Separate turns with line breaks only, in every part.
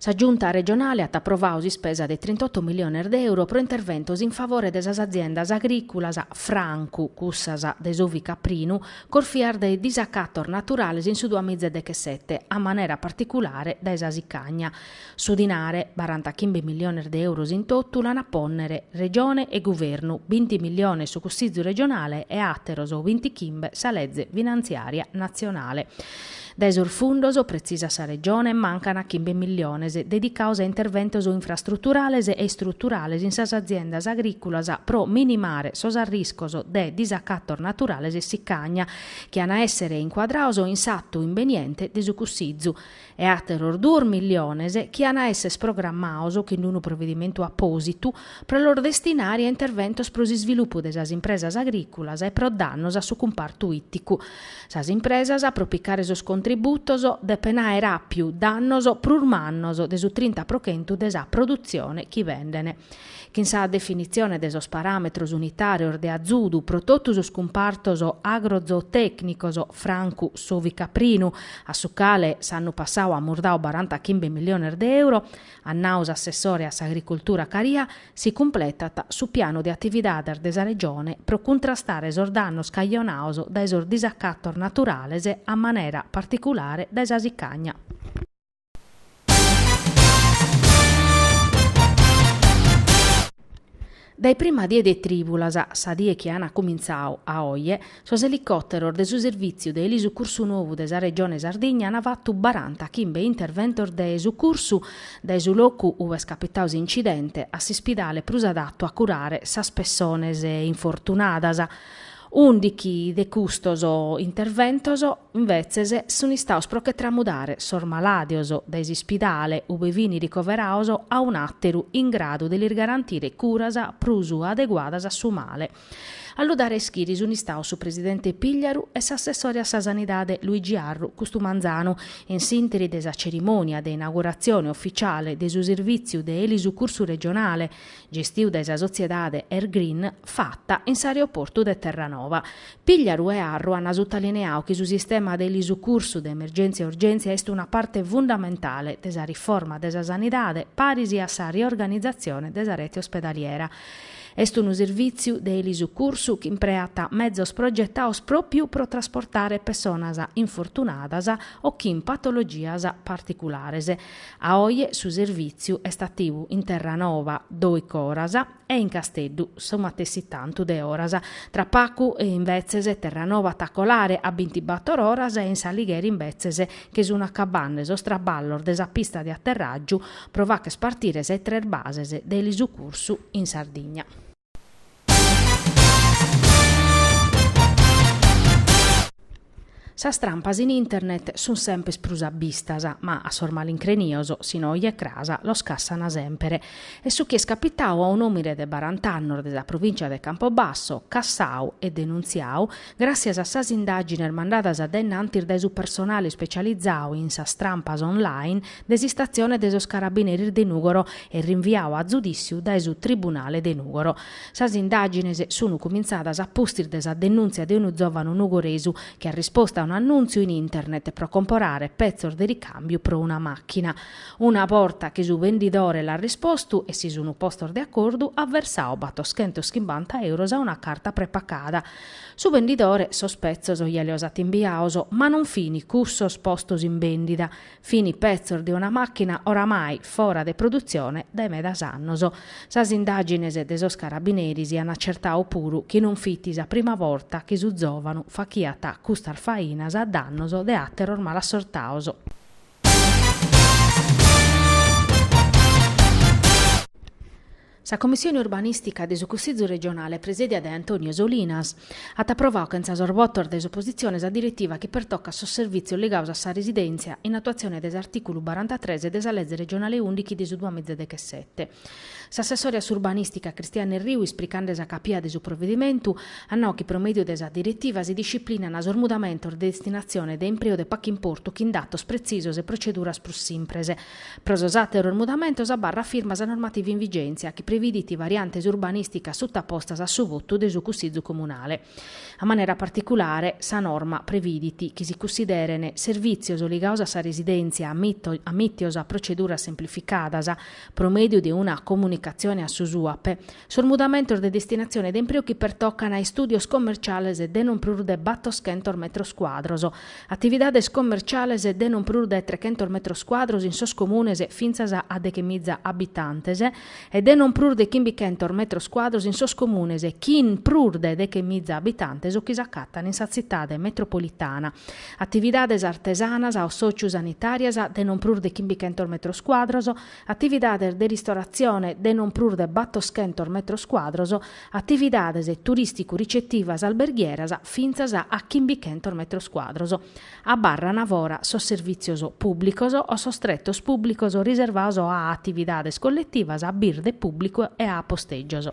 Sa Giunta regionale at aprovadu s'ispesa de trintotto miliones de euro pro interventos in favore de sas aziendas agrìculas, francu cussas de s'ovicaprinu, corfias de disacatos naturales in su duamiza e dechesete, a manera particulare dae sa sicagna. Su dinare, barantachimbe miliones de euros in totu, l'an a pònnere Regione e Guvernu, binti miliones su Cussizu regionale e àteros bintichimbe sa leze finantziària natzionale. Dae sos fundos, pretzisat sa Regione, mancant chimbe miliones, dedicados a interventos infrastruturales e istruturales in sas aziendas agrìculas pro minimare sos arriscos de disacatos naturales e sicagna, chi an a èssere incuadrados in s'atu imbeniente de su cussizu, e àteros duos miliones chi an a èssere programmados chin d'unu provedimentu apòsitu pro los destinare a interventos pro s'isvilupu de sas impresas agrìculas e pro dannos a su cumpartu ìticu. Sas impresas pro picare sos contributos depent àere àpiu dannos prus mannos de su trinta pro chentu de sa produtzione chi bendent. Chin sa definitzione de sos paràmetros unitàrios de azudu pro totu sos cumpartos agrozootècnicos, francu s'ovicaprinu, a su cale s'annu passadu amus dadu barantachimbe miliones de euro, at nau s'assessore a s'Agricultura Caria, si cumpletat su pianu de atividades de sa Regione pro cuntrastare sos dannos cajonados dae sos disacatos naturales a manera particulare dae sa sicagna. Dae prima die de trìbulas, sa die chi an cumintzadu, a oje, sos elicòteros de su Servìtziu de Elisucursu novu de sa Regione Sardigna an fatu barantachimbe interventos de sucursu dae su locu ube est capitadu s'incidente a s'ispidale prus adatu a curare sas pessones infortunadas. Ùndichi de custos interventos, invetzes, sun istados pro che tramudare sos malàdios dae s'ispidale ube fin ricoverados a un'àteru in gradu de lis garantire curas prus adeguadas a su male. A lu dare a ischire sun istados su presidente Pigliaru e s'assessore a sa Sanidade Luigi Arru custu manzanu, in s'ìnteri de sa cerimònia de inauguratzione ofitziale de su Servìtziu de Elisucursu Regionale, gestiu dae sa sotziedade Airgreen fata in s'aeroportu de Terranova. Pigliaru e Arru an sutalineau chi su sistema de elisucursu de emergèntzia e urgèntzia est una parte fundamentale de sa riforma de sa sanidade paris a sa riorganizatzione de sa rete ospedaliera. Est unu servìtziu de elisucursu chi impreat mezos progetados pròpriu pro trasportare pessonas infortunadas o chin patologias particulares, A oje su servìtziu est ativu in Terranova dòichi oras e in Casteddu su matessi tantu de oras. Tra pacu, imbetzes, Terranova at a colare a bintibàtor oras e in s'Aligheri imbetzes che sun acabande sos traballos de sa pista de aterràgiu pro fàcher partire sas tres bases de elisucursu in Sardigna. Sas trampas in internet sunt semper prus abbistas, ma a sos malincrenios, si no oje cras, los cassana semper. Est su chi est capitau a un'òmine de barant'annos de sa provìncia de Campobasso, cassau e denuntziau Gràtzias a sas indàgines mandadas dae innantis dae su personale ispecializau in sas trampas online de s'istatzione de sos carabineris de Nùgoro e rinviau a zudìtziu dae su tribunale de Nùgoro, sas indàgines sunu cumintzadas a pustis de sa denùntzia de unu zòvanu nugoresu chi at rispostu a un'annùntziu in internet pro comporare petzos de ricàmbiu pro una màchina. Una borta chi su bendidore l'at rispostu e si sunu postos de acordu, at versau batoschentos chimbanta euros a una carta prepacada, Su bendidore sos petzos ja lios at imbiaos, ma non fini cussos postos in bèndida, fini petzos de una màchina oramai fora de produtzione dae medas annos. Sas indàgines de sos carabineris an acertau puru chi non fit sa prima borta chi su zòvanu fachiat custas fainas a dannos de àteros malassortaos. Sa Commissione Urbanìstica de su Cussizu Regionale presèdia dae Antonio Solinas, at aprovau chentza sos votos de s'opositzione sa diretiva chi pertocat sos servìtzios ligaos a sa residèntzia in atuatzione de s'artìculu barantatres de sa Leze Regionale ùndichi de su duamiza e dechesete. S'assessore a s'Urbanìstica Cristiano Erriu isplicande sa capia de su provedimentu at nau chi pro mèdiu de sa diretiva si disciplinan sos mudamentos de destinatzione de impreu de pacu importu chin datos pretzisos e proceduras prus simpres Pro sos àteros mudamentos abarrat firma sa normativa in vigèntzia chi previdit variantes urbanìsticas sutapostas a su votu de su Cussizu Comunale. A manera particulare, sa norma previdit chi si cussideren servìtzios ligaos a sa residèntzia amìtios a proceduras semplificadas pro mèdiu de una comunicatzione a su SUAPE, Sos mudamentos de destinatzione de impreu chi pertocan a istùdios commerciales de non prus de battoschentos metros cuadros, atividades commerciales de non prus de trechentos metros cuadros in sos comunes fintzas a dechemiza abitantes e de non prus de chimbichentos metros cuadros in sos comunes chin prus de dechemiza abitantes o chi s'acatan in sa Tzitade metropolitana, atividades artesanas o socio-sanitàrias de non prus de chimbichentos metros cuadros, atividades de ristoratzione de non prus de battoschentos metros cuadros, atividades turìsticu-ricetivas alberghieras fintzas a chimbichentos metros cuadros, abarran fora sos servìtzios pùblicos o sos tretos pùblicos riservados a atividades colletivas a birde pùblicu e a postègios.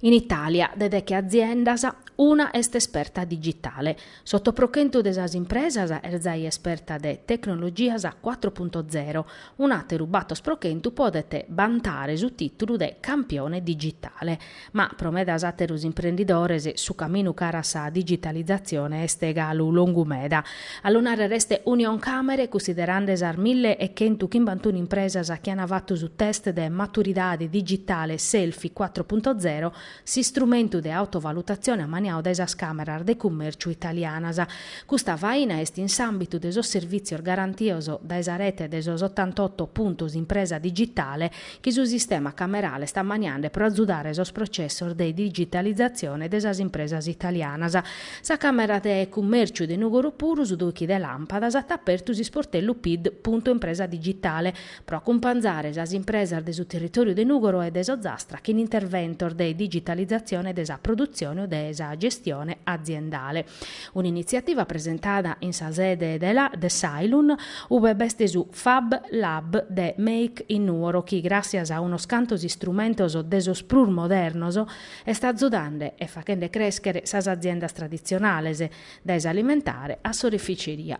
In Itàlia, de deche aziendas, una est esperta digitale. S'oto pro chentu de sas impresas est zai esperta de tecnologias quattro punto zero, un'àteru bator pro chentu podet bantare su tìtulu de campione digitale. Ma pro medas àteros imprendidores su caminu cara a sa digitalizatzione est galu longu meda. A lu nàrrere est Unioncàmere, cunsiderande sas mille e chentu chimbantunu impresas chi ant fatu su test de maturidade digitale Selfie quattro punto zero, s'istrumentu de autovalutatzione ammaniau dae sas càmeras de cummèrciu italianas. Custa faina est in s'àmbitu de sos servìtzios garantios dae sa rete de sos otantotto puntos impresa digitale, chi su sistema camerale est ammaniande pro azudare sos processos de digitalizatzione de sas impresas italianas. Sa Camera de Cummèrciu de Nùgoro puru su dòichi de làmpadas at apertu s'isportellu PID, Punto Impresa digitale pro acumpanzare sas impresas de su territòriu de Nùgoro e de s'Ozastra chin interventos de digitalizatzione de sa produtzione o de sa gestione aziendale. un'initziativa presentada in sa sede de de s'Ailun, ube b'est su Fab Lab de Make in Nuoro chi, gràtzias a unos cantos istrumentos de sos prus modernos, est azudande e faghende crèschere sas aziendas traditzionales, dae s'alimentare a s'oreficeria.